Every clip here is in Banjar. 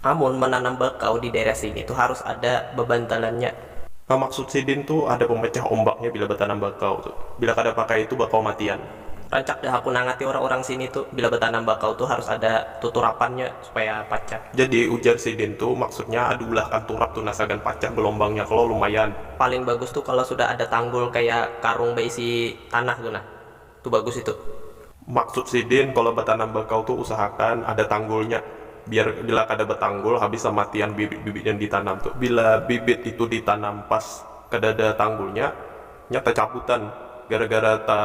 Amun mananam bakau di daerah sini tu harus ada babantalannya. Pamaksud sidin tu ada pamacah ombaknya bila batanam bakau tu. Bila kada pakai itu bakau matian. Rancak dah aku nangati orang-orang sini tu bila batanam bakau tu harus ada tuturapannya supaya pacah. Jadi ujar sidin tu maksudnya ada ulahkan turap tu nah sagan pacah gelombangnya kalo lumayan. Paling bagus tu kalo sudah ada tanggul kaya karung baisi tanah tu nah. Tu bagus itu. Maksud sidin kalo batanam bakau tu usahakan ada tanggulnya biar bila kada batanggul habis samatian bibit-bibit yang ditanam tu bila bibit itu ditanam pas kadada tanggulnya nya tacabutan gara-gara ta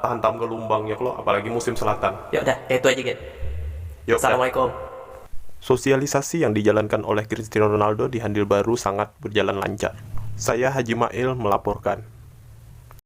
tahantam ka lumbang nya kalo apalagi musim selatan. Yok dah, kaya itu aja gin. Yok dah. Assalamualaikum. Sosialisasi yang dijalankan oleh Cristiano Ronaldo di Handil Baru sangat berjalan lancar. Saya Haji Mail melaporkan.